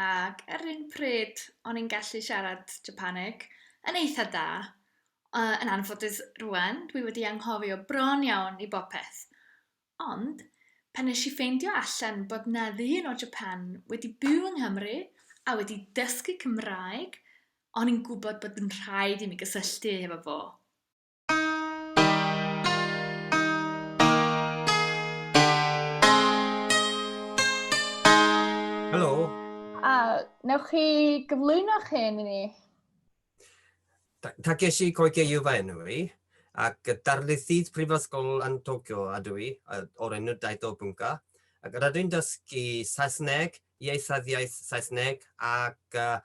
Ac ar yr un pryd, o'n i'n gallu siarad Japaneg yn eitha da. Uh, yn anffodus rwan, dwi wedi anghofio bron iawn i bopeth. Ond, pan nes i ffeindio allan bod na ddyn o Japan wedi byw yng Nghymru a wedi dysgu Cymraeg, o'n i'n gwybod bod yn rhaid i mi gysylltu hefo fo. Helo. A, newch chi gyflwyno'ch hyn i ni? Takeshi Koikeiyu fy enw i, ac darlithydd prifysgol yn Tokyo ydw i, o'r enw Daito Bunka, ac rydw i'n dysgu Saesneg, ieithyddiaeth Saesneg ac uh,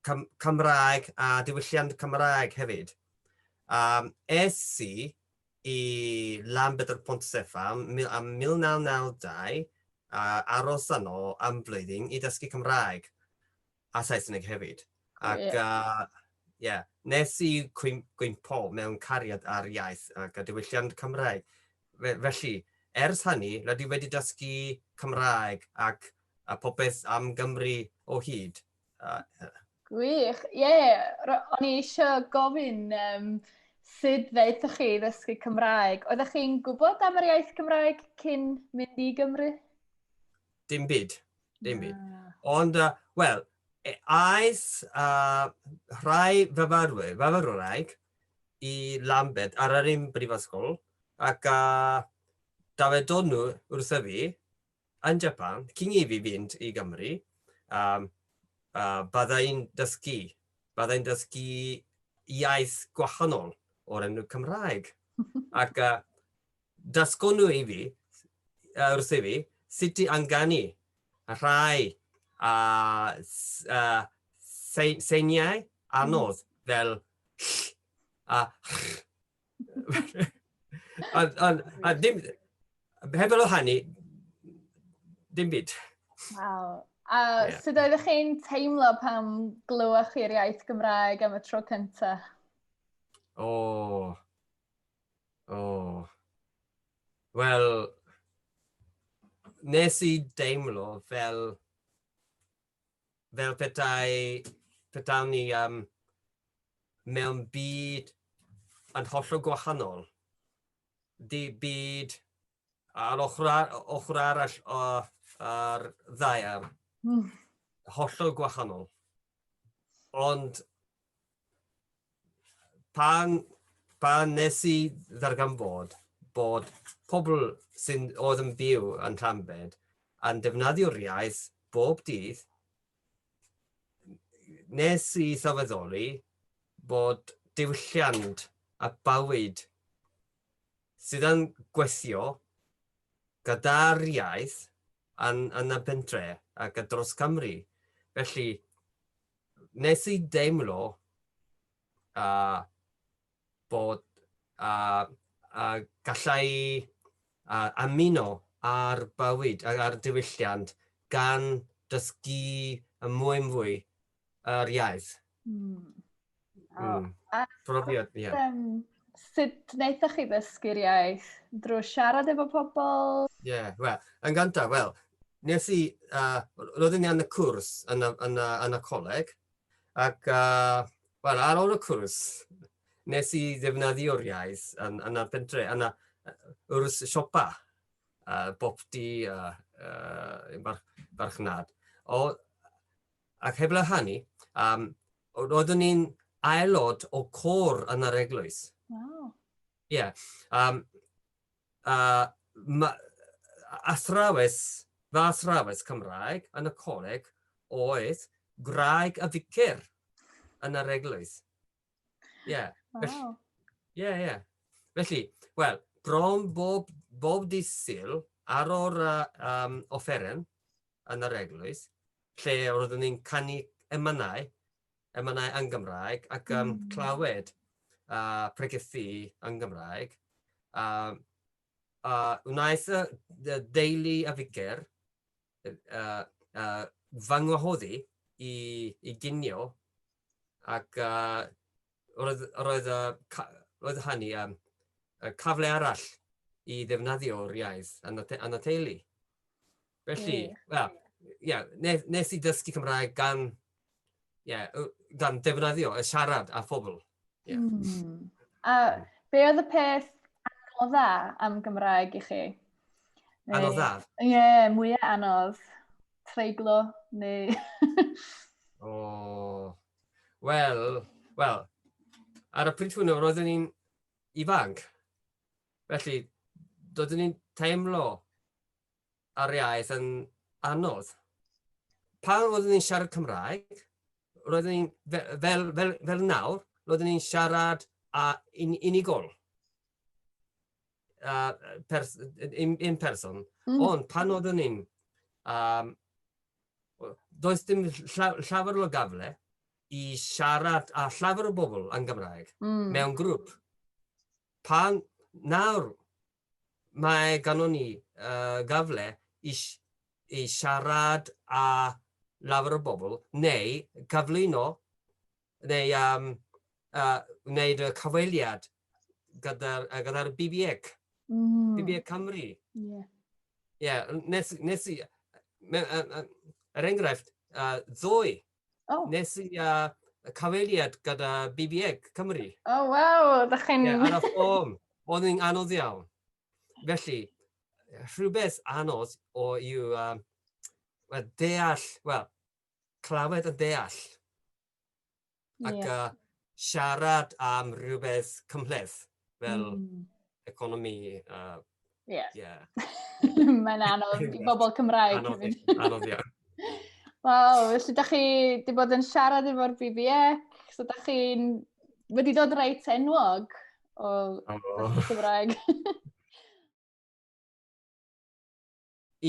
Cym Cymraeg a diwylliant Cymraeg hefyd. Um, es i i Llanbedr Pontstef am, am 1992 a aros yno am flwyddyn i dysgu Cymraeg a Saesneg hefyd. Ac yeah. uh, yeah. Nes i gwympo mewn cariad ar iaith ac a diwylliant Cymraeg. Felly, ers hynny, rydw i wedi dysgu Cymraeg ac a popeth am Gymru o hyd. Gwych, ie. Yeah. O'n i eisiau gofyn um, sut ddeithoch chi ddysgu Cymraeg. Oeddech chi'n gwybod am yr iaith Cymraeg cyn mynd i Gymru? Dim byd, dim byd. Ah. Ond, uh, wel, e, aeth uh, rhai fyfyrwyr, fyfyrwraig, i Lambed ar yr un brifysgol, ac uh, dawedon nhw wrtho fi, Yn Japan, cyn i fi fynd i Gymru, um, uh, byddai'n dysgu, byddai'n dysgu iaith gwahanol o'r enw Cymraeg. Ac uh, dysgon nhw i fi, uh, wrth i fi, sut i anganu rhai uh, uh, seiniau anodd fel ll a ll a, a, a ddim, heb ôl hynny, dim byd. Wow. A yeah. sut oeddech chi'n teimlo pam glywach chi'r iaith Gymraeg am y tro cyntaf? O. Oh. O. Oh. Wel, nes i deimlo fel fel petai, petawn ni um, mewn byd yn hollol gwahanol. Di byd ar ochr, ochr arall o'r ar ddaear, mm. hollol gwahanol. Ond pan, pan nes i ddarganfod bod pobl sy'n oedd yn byw yn Llanbed yn defnyddio'r iaith bob dydd, nes i sylweddoli bod diwylliant a bywyd sydd yn gweithio gyda'r iaith yn, yn y pentre ac dros Cymru. Felly, nes i deimlo uh, bod uh, uh, gallai uh, amino ar bywyd, ar diwylliant, gan dysgu y mwy yn fwy yr iaith. Mm. Mm. Profiad, ie. Yeah. Um, sut wnaethoch chi ddysgu'r iaith? Drwy siarad efo pobl? Ie, yeah, wel, yn gyntaf, wel, nes i, uh, roeddwn i yn y cwrs yn y, yn y, yn y coleg, ac, uh, wel, ar ôl y cwrs, nes i ddefnyddio'r iaith yn, yn y pentre, yn y, wrth siopa, uh, bob di, uh, uh, barchnad. O, ac heblaw hynny, um, roeddwn i'n aelod o côr yn yr eglwys. Wow. Ie. Yeah. Um, uh, ma, athrawes, fy athrawes Cymraeg yn y coleg oedd graig y ficer yn yr eglwys. Ie. Yeah. Wow. Ie, yeah, ie. Yeah. Felly, wel, bron bob, bob disil ar o'r uh, um, offeren yn yr eglwys, lle roeddwn ni'n canu emynau, emynau yn Gymraeg, ac um, mm. clywed uh, pregethu yn Gymraeg. Uh, uh, wnaeth y deulu a ficer uh, uh, fy ngwahoddi i, i ginio ac uh, roedd, roedd, uh, roedd hynny um, cyfle arall i ddefnyddio'r iaith yn y teulu. Felly, wel, ie, nes, nes i ddysgu Cymraeg gan, ie, gan defnyddio y siarad a phobl. Yeah. Mm. A be oedd y peth anodd dda am Gymraeg i chi? Neu, anodd dda? Ie, yeah, mwyaf anodd. Treiglo, neu... o, oh. wel, wel, ar y pryd hwnnw, roeddwn ni'n ifanc. Felly, doeddwn ni'n teimlo a'r iaith yn anodd. Pan roeddwn ni'n siarad Cymraeg, roeddwn ni'n fel, fel, fel, fel nawr, roeddwn ni'n siarad a un, unigol. Uh, pers, in, in person. Mm. Ond pan roeddwn ni'n... Um, does dim llawer o gafle i siarad a llawer o bobl yn Gymraeg mm. mewn grŵp. Pan nawr mae ganddon ni uh, gafle i, i siarad a lawer o bobl, neu cyflwyno, neu um, uh, wneud y cyfeiliad gyda'r gyda BBEC, mm. BBEC Cymru. Ie. Yeah. yeah, nes, nes i, er enghraifft, uh, ddoe, Oh. Nes i uh, y cyfeiriad gyda BBEG Cymru. O, oh, waw, ydych chi'n... Ie, ar y ffôn. Oedd yn anodd iawn. Felly, rhywbeth anodd o yw um, well, deall, wel, clywed yn deall. Ac yeah. uh, siarad am rhywbeth cymhleth. fel mm. economi a... Uh, yeah. yeah. Mae'n anodd i bobl Cymraeg. Anodd, anodd iawn. Waw, felly da chi wedi bod yn siarad efo'r BBEC, so da chi'n wedi dod reit enwog o oh. Cymraeg.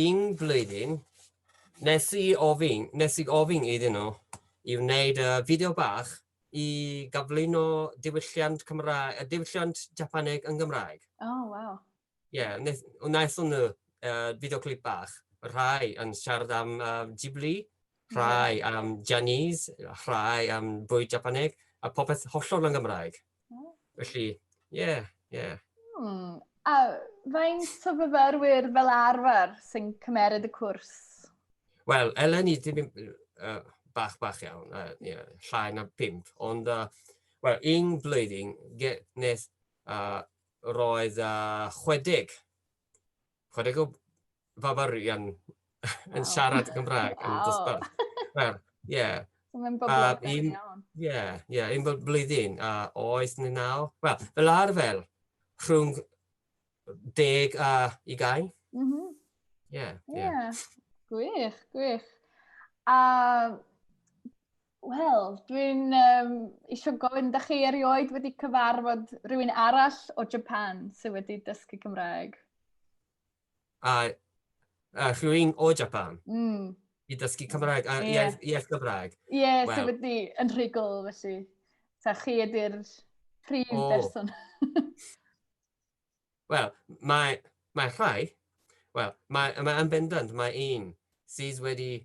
Un flwyddyn, nes i ofyn, nes i ofyn iddyn nhw i wneud y fideo bach i gyflwyno diwylliant Cymraeg, y diwylliant Japaneg yn Gymraeg. O, oh, waw. Ie, yeah, wnaethon nhw uh, fideo clip bach, rhai yn siarad am uh, Ghibli, rhai am Janice, rhai am bwyd Japaneg, a popeth hollol yn Gymraeg. Felly, ie, yeah, ie. Yeah. Hmm. A faint o fyfyrwyr fel arfer sy'n cymeryd y cwrs? Wel, eleni, dim uh, bach bach iawn, uh, yeah, llai na pimp, ond uh, well, un blwyddyn nes uh, roedd uh, 60, 60 o fyfyrian yn siarad Cymraeg yn dosbarth. Wel, ie. So mae'n boblogaidd iawn. Ie, ie, un bob blwyddyn, a oes ni naw. Wel, fel arfer, rhwng deg a i gael. Mhm. Ie, ie. Gwych, gwych. A, wel, dwi'n um, eisiau gofyn, da chi erioed wedi cyfarfod rhywun arall o Japan sydd wedi dysgu Cymraeg? a a rhywun o Japan... Mm. ...i dysgu Cymraeg a... Ie. ...iaith iaith Gymraeg. Ie, so... Wel. ...wedi yn rhugl felly. Ta chi ydy'r prif... O. ...berson? Wel, mae mae rhai... Wel, mae mae yn bendant, mae un sydd wedi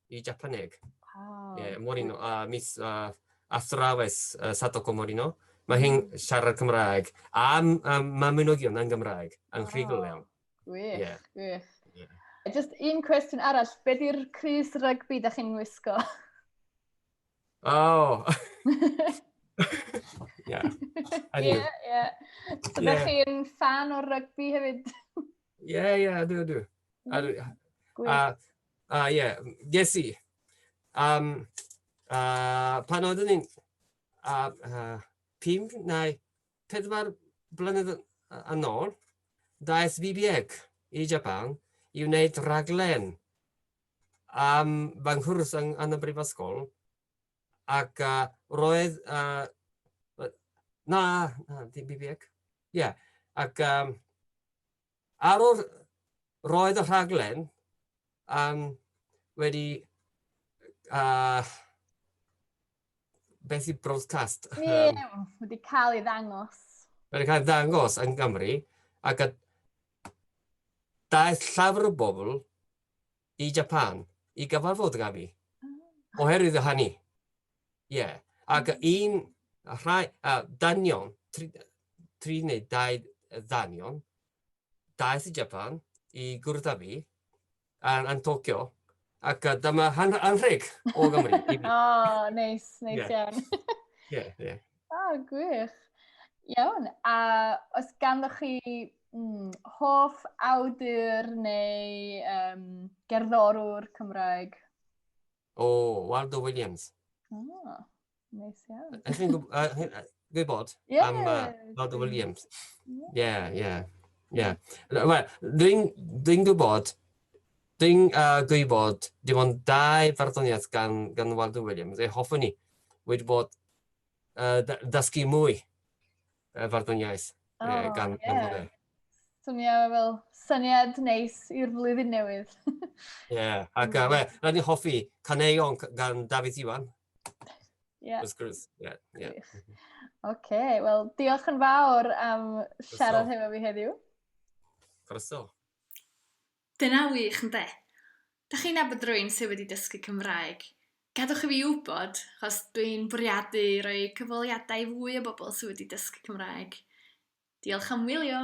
i Japaneg. Oh. Yeah, Morino, uh, Miss uh, Athrawes uh, Sadoko Morino. Mae hi'n mm. siarad Cymraeg. A um, mae mynogion yn Gymraeg, yn rhigol iawn. Gwych, yeah. gwych. Yeah. Just un cwestiwn arall, be di'r Cris rygbi da chi'n wisgo? Oh! yeah. Ie, ie. So da chi'n fan o'r rygbi hefyd? Ie, ie, ydw, ydw. A A uh, ie, yeah. ges i. Um, uh, pan oeddwn ni'n uh, uh, pum neu pedwar blynedd yn ôl, daeth BBEG i Japan i wneud raglen am fy nghwrs yn, yn y brifysgol ac uh, roedd uh, na, na, di BBEG, ie, yeah. ac um, Ar ôl, roedd y rhaglen um, wedi uh, beth i broadcast? Ie, um, wedi cael ei ddangos. Wedi cael ei ddangos yn Gymru, ac a daeth llafr o bobl i Japan i gyfarfod gyda fi, ah. oherwydd y hynny. Ie, ac un rhai uh, danion, tri, tri neu dau ddanion, daeth i Japan i gwrdd â fi yn, yn Tokyo, ac uh, dyma han, anrheg o Gymru. O, oh, neis, neis iawn. Ie, ie. O, gwych. Iawn, a os ganddo chi mm, hoff awdur neu um, gerddorwr Cymraeg? O, Waldo Williams. O, oh, neis iawn. Ydych chi'n gwybod yeah, am uh, Waldo Williams? Ie, ie. Ie. Wel, dwi'n gwybod, dwi'n uh, gwybod dim ond dau farddoniaeth gan, gan Waldo Williams, ei hoffwn ni, wedi bod uh, dysgu mwy y farddoniaeth oh, uh, gan yeah. Anfona. Swnio fel syniad neis i'r flwyddyn newydd. Ie, yeah, ac uh, we, rhaid ni'n hoffi caneuon gan David Iwan. Ie. Yeah. Yeah, yeah. Oce, okay, wel, diolch yn fawr am siarad hefo fi heddiw. Croeso. Dyna wych, ynde? Dach chi'n nabod rwy'n sydd wedi dysgu Cymraeg? Gadwch i fi wybod, achos dwi'n bwriadu rhoi cyfweliadau i fwy o bobl sydd wedi dysgu Cymraeg. Diolch am wylio!